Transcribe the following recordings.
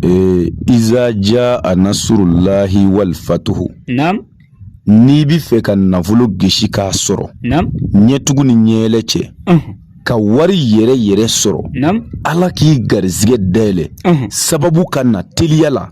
ee eh, iza jaa nasurulahi wal fatuhu n'i b'a fɛ ka nafolo gesi k'a sɔrɔ ɲɛtugu ni ɲɛɛlɛ cɛ ka wari yɛrɛ yɛrɛ sɔrɔ ala k'i garizigɛ dayɛlɛ sababu ka na teliya la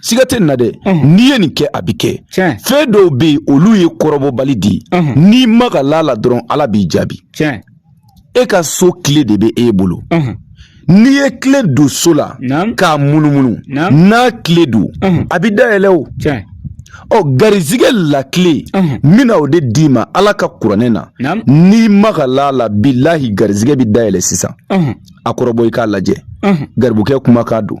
siga tɛ nin na dɛ n'i ye nin kɛ a bɛ kɛ fɛn dɔw bɛ yen olu ye kɔrɔbɔbali di n'i magala a la dɔrɔn ala b'i jaabi e ka so kile de bɛ e bolo n'i ye kile don so la k'a munumunu n'a kile don a bɛ dayɛlɛ o ɔ garizigɛ la kile n bɛna o de d'i ma ala ka kuranɛ na n'i magala a la bilahi garizigɛ bɛ dayɛlɛ sisan a kɔrɔbɔ i k'a lajɛ garibukɛ kumakan don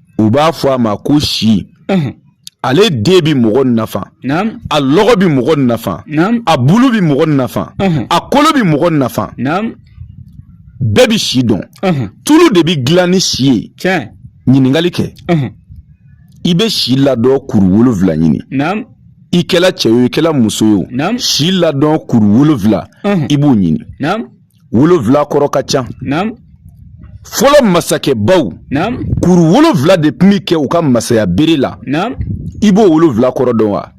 u b'a fɔ a ma ko si ale den bɛ mɔgɔ nafa a lɔgɔ bɛ mɔgɔ nafa a bulu bɛ mɔgɔ nafa a kolo bɛ mɔgɔ nafa bɛɛ bɛ si dɔn tulu de bɛ dilan ni si ye ɲininkali kɛ i bɛ si ladɔn kuru wolonwula ɲini i kɛla cɛ ye o i kɛla muso ye o si ladɔn kuru wolonwula i b'o ɲini wolonwula kɔrɔ ka ca fɔlɔ masakɛbaw kuru wolonwula de tun bɛ kɛ u ka masaya bere la i b'o wolonwula kɔrɔ dɔn wa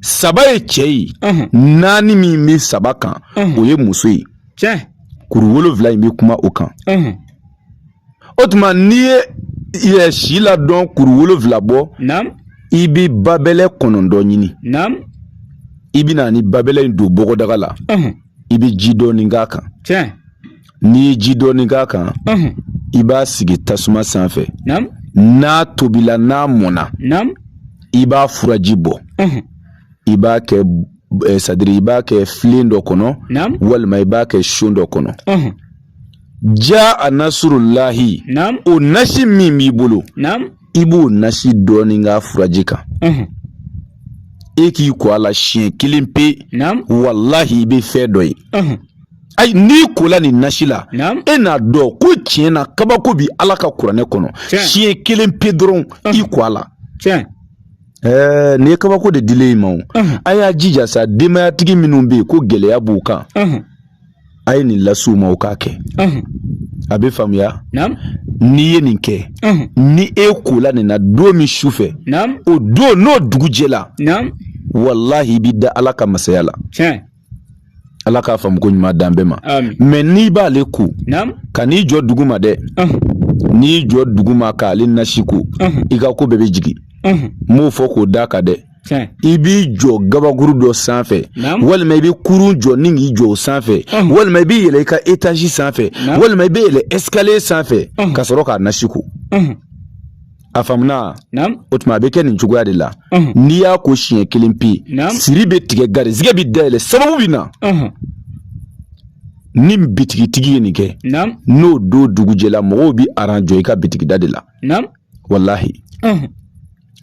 saba ye cɛ ye naani min bɛ saba kan o ye muso ye kuru wolonwula in bɛ kuma o kan o tuma n'i ye ɛ si ladɔn kuru wolonfila bɔ i bɛ babɛlɛ kɔnɔntɔn ɲini i bɛ na ni babɛlɛ in don bɔgɔdaga la i bɛ ji dɔɔni k'a kan n'i ye ji dɔɔni k'a kan i b'a sigi tasuma sanfɛ n'a tobila n'a mɔnna i b'a furaji bɔ i b'a kɛ sadiri i b'a kɛ filen dɔ kɔnɔ walima i b'a kɛ so dɔ kɔnɔ Jaa nasurulahi o nasi min b'i bolo i b'o nasi dɔɔnin k'a furaji kan e k'i ko a la siɲɛ kelen pe walahi i bɛ fɛn dɔ ye ayi n'i kola nin nasi la e n'a dɔn ko tiɲɛ na kabako bɛ ala ka kuranɛ kɔnɔ siɲɛ kelen pe dɔrɔn i ko a la nin ye kabako de dilen i ma o a y'a jija sa denbayatigi minnu bɛ yen ko gɛlɛya b'u kan a ye nin lase u ma u k'a kɛ a bɛ faamuya n'i ye nin kɛ ni e kola nin na don min su fɛ o don n'o dugujɛ la walahi i bɛ da ala ka masaya la ala k'a faamuko ɲuman d'an bɛɛ ma mɛ n'i b'ale ko kan'i jɔ duguma dɛ n'i jɔ duguma k'ale nasi ko i ka ko bɛɛ bɛ jigin n b'o fɔ k'o d'a kan dɛ i b'i jɔ gabakuru dɔ sanfɛ walima i bɛ kurun jɔ ni k'i jɔ o sanfɛ walima i bɛ yɛlɛ i ka etazi sanfɛ walima i bɛ yɛlɛ escalier sanfɛ ka sɔrɔ k'a nasi ko a faamuna o tuma a bɛ kɛ nin cogoya de la n'i y'a ko siɲɛ kelen pe siri bɛ tigɛ garizigɛ bɛ dayɛlɛ sababu bɛ na ni bitigitigi ye nin kɛ n'o don dugu jɛla mɔgɔw bɛ aran jɔ i ka bitigida de la walahi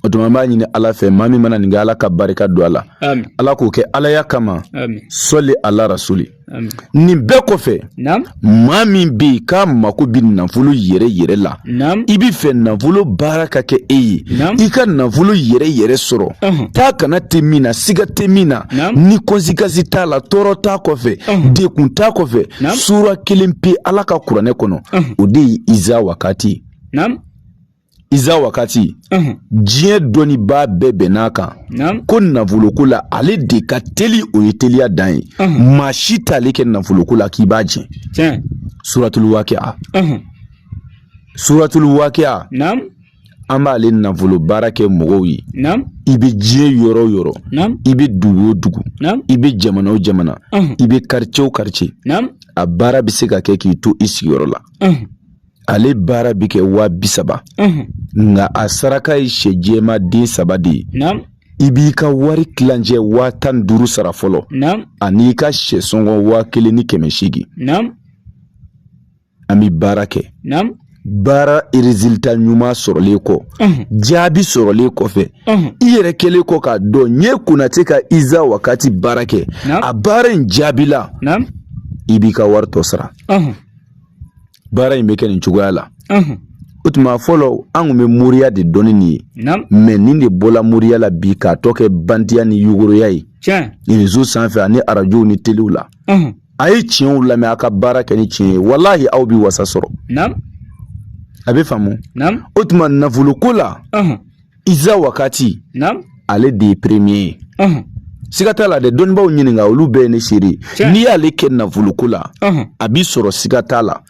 O tuma an b'a ɲini ala fɛ maa min mana nin kɛ ala ka barika don a la ala k'o kɛ alaya kama sɔli ala rasuli nin bɛɛ kɔfɛ maa min bɛ yen k'a mako bɛ nafolo yɛrɛ yɛrɛ la i b'a fɛ nafolo baara ka kɛ e ye i ka nafolo yɛrɛ yɛrɛ sɔrɔ taa ka na tɛ min na siga tɛ min na ni conséquence t'a la tɔɔrɔ t'a kɔfɛ degun t'a kɔfɛ sura kelen pe ala ka kuranɛ kɔnɔ o de ye iza wakati Iza wakati diɲɛ dɔnnibaa bɛɛ bɛnn'a kan ko nafoloko la ale de ka teli o ye teliya dan ye maa si t'ale kɛ nafoloko la k'i b'a jɛ suratulu wakiya suratulu wakiya an b'ale nafolo baara kɛ mɔgɔw ye i bɛ diɲɛ yɔrɔ o yɔrɔ i bɛ dugu o dugu i bɛ jamana o jamana i bɛ quartier o quartier a baara bɛ se ka kɛ k'i to i sigiyɔrɔ la ale baara bɛ kɛ waa bi saba nka a saraka ye sɛ jɛma den saba de ye i b'i ka wari kilancɛ waa tan ni duuru sara fɔlɔ ani i ka sɛ sɔngɔ waa kelen ni kɛmɛ seegin an bɛ baara kɛ baara résultat ɲuman sɔrɔlen kɔ jaabi sɔrɔlen kɔfɛ i yɛrɛ kɛlen kɔ k'a dɔn n ye konatɛ ka iza wakati baara kɛ a baara in jaabila i b'i ka wari tɔ sara baara in bɛ kɛ nin cogoya la o tuma fɔlɔ an tun bɛ moriya de dɔn nin ye mɛ nin de bɔla moriya la bi k'a tɔ kɛ bandiya ni yugoroya ye rezo sanfɛ ani arajow ni telew la a ye tiɲɛw lamɛn a ka baara kɛ ni tiɲɛ ye walahi aw bɛ wasa sɔrɔ a bɛ faamu o tuma nafoloko la Iza wakati ale de ye premier ye siga t'a la dɛ dɔnnibaw ɲininka olu bɛɛ ye ne seere n'i y'ale kɛ nafoloko la a bɛ sɔrɔ siga t'a la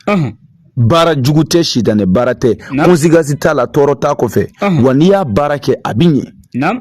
baara jugu tɛ sitanɛ baara tɛ conséquence t'a la tɔɔrɔ t'a kɔfɛ wa n'i y'a baara kɛ a bɛ ɲɛ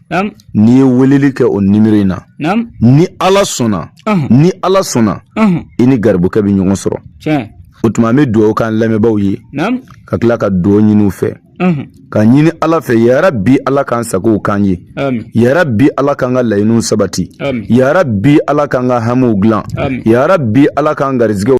n'i ye weleli kɛ o nimoro in na ni ala sɔnna ni ala sɔnna i ni garibukɛ bɛ ɲɔgɔn sɔrɔ o tuma an bɛ dugawu k'an lamɛnbaaw ye ka tila ka dugawu ɲini u fɛ k'a ɲini ala fɛ yarabi ala k'an sagow k'an ye yarabi ala k'an ka laɲiniw sabati yarabi ala k'an ka hamiw dilan yarabi ala k'an garizigɛ